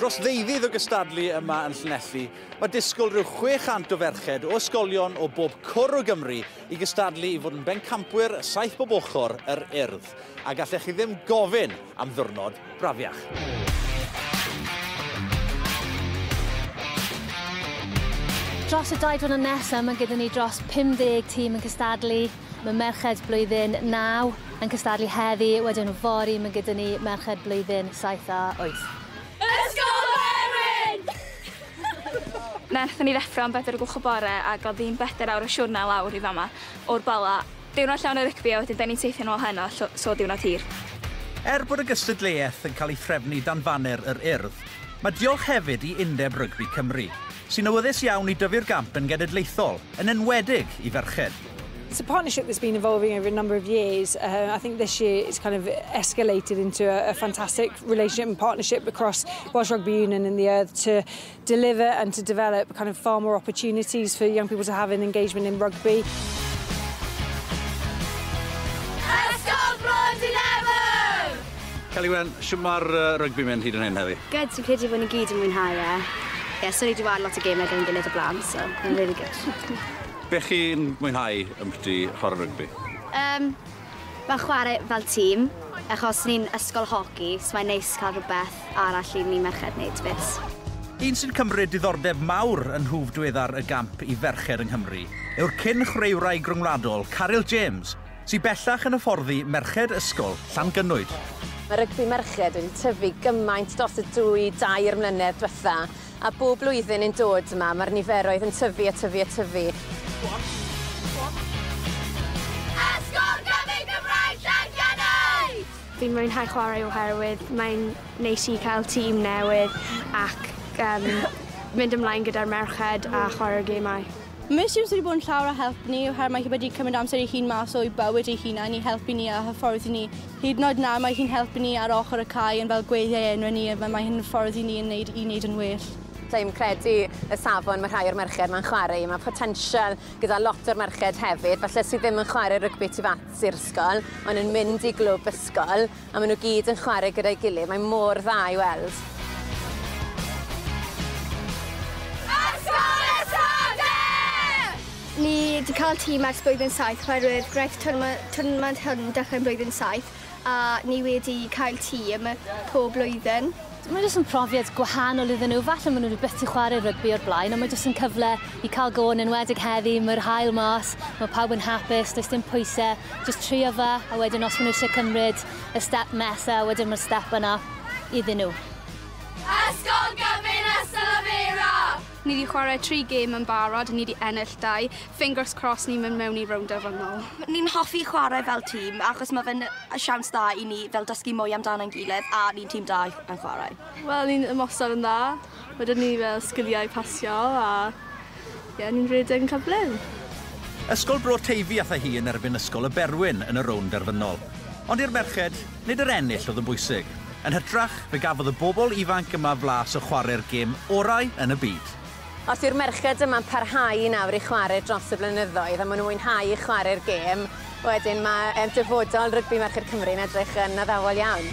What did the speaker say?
Dros ddeuddydd o gystadlu yma yn Llanelli, mae disgwyl rhyw 600 o ferched o ysgolion o bob cwr o Gymru i gystadlu i fod yn bencampwyr saith bob ochr yr Urdd, a gallech chi ddim gofyn am ddiwrnod brafiach. Dros y dau diwrnod nesaf, mae gyda ni dros 50 tîm yn cystadlu. Mae merched blwyddyn naw yn cystadlu heddi, wedyn yfory mae gyda ni merched blwyddyn saith a wyth. Ysgol Faerwen! Nerthon ni ddeffro am bedwar o gloch y bore ag o'dd hi'n bedair awr y siwrne lawr i fama o'r Bala. Diwrnod llawn o rygbi a wedyn da ni'n teithio'n ôl heno llo- so diwrnod hir. Er bod y gystadleuaeth yn cael ei threfnu dan faner yr Urdd, mae diolch hefyd i Undeb Rygbi Cymru, sy'n awyddus iawn i dyfu'r gamp yn genedlaethol, yn enwedig i ferched. It's a partnership that's been evolving over a number of years. Uh, I think this year it's kind of escalated into a, a fantastic relationship and partnership across Welsh Rugby Union and the Earth to deliver and to develop kind of far more opportunities for young people to have an engagement in rugby. Celiwen, sy'n mae'r uh, rygbi mynd hyd yn hyn heddi? Gyd, sy'n credu bod ni gyd yn mwynhau e. Ie, yeah, so ni wedi wario lot o gemau gyda'n gilydd o blaen, so, mae'n really good. Be chi'n mwynhau ymbyti chwarae rygbi? Yym ma chware fel tîm achos ni'n ysgol hoci so mae'n neis cael rhywbeth arall i ni merched neud 'fyd. Un sy'n cymryd diddordeb mawr yn nhwf dweddar y gamp i ferched yng Nghymru yw'r cyn chwraewraig ryngwladol Caryl James sy bellach yn hyfforddi merched ysgol Llangynwyd. Mae rygbi merched wedi tyfu gymaint dros y dwy, dair mlynedd dwetha. A bob blwyddyn yn dod 'ma, mae'r niferoedd yn tyfu a tyfu a tyfu. Go on, go on. Esgob gan ein Gymraeg Llangennid! Fi'n mwynhau chwarae oherwydd mae'n neis i cael tîm newydd ac um, mynd ymlaen gyda'r merched a chwarae'r gemau. Mae Sims wedi bod yn llawer o help ni oherwydd mae hi wedi cymryd amser ei hun mas o'i bywyd ei hunan i helpu ni a hyfforddi ni Hyd yn oed nawr mae hi'n helpu ni ar ochr y cae yn fel gweithiau enwe ni a mae hyn yn ffordd i ni yn wneud i wneud yn well. Dim credu y safon mae rhai o'r merched ma'n chware i, mae potensial gyda lot o'r merched hefyd falle sydd ddim yn chware rygbi tu fas i'r ysgol ond yn mynd i glwb ysgol a maen nhw gyd yn chware gyda'i gilydd, mae mor dda i weld. Ysgol y Sode! Ni 'di cael tîm ers blwyddyn saith oherwydd gwnaeth twrnament hwn dechrau yn blwyddyn saith a ni wedi cael tîm pob blwyddyn. Mae jyst yn profiad gwahanol iddyn nhw, falle maen nhw wedi byth 'di chwarae rygbi o'r blaen ond mae jyst yn cyfle i cael go yn enwedig heddi, mae'r haul mas, mae pawb yn hapus, does dim pwysau, jyst trio fe a wedyn os maen nhw eisiau cymryd y step nesaf wedyn mae'r step yna iddyn nhw. Ysgol Gyfun Ystalyfera! Ni 'di chwarae tri gêm yn barod, ni 'di ennill dau, fingers crossed ni'n mynd mewn i rownd derfynol. Ni'n hoffi chwarae fel tîm achos ma' fe'n siawns dda i ni fel dysgu mwy amdano ein gilydd a ni'n tîm da yn chwarae. Wel ni'n ymosod yn dda, ma' 'da ni fel sgiliau i pasio a ie ni'n rhedeg yn cyflym. Ysgol Bro Teifi ath â hi yn erbyn Ysgol y Berwyn yn y rownd derfynol. Ond i'r merched, Nid yr ennill oedd yn bwysig. Yn hytrach, fe gafodd y bobl ifanc yma flas o chwarae'r gêm orau yn y byd. Os yw'r merched yma'n parhau i nawr i chwarae dros y blynyddoedd a maen nhw'n mwynhau chwarae'r gêm, wedyn mae dyfodol rygbi merched Cymru yn edrych yn addawol iawn.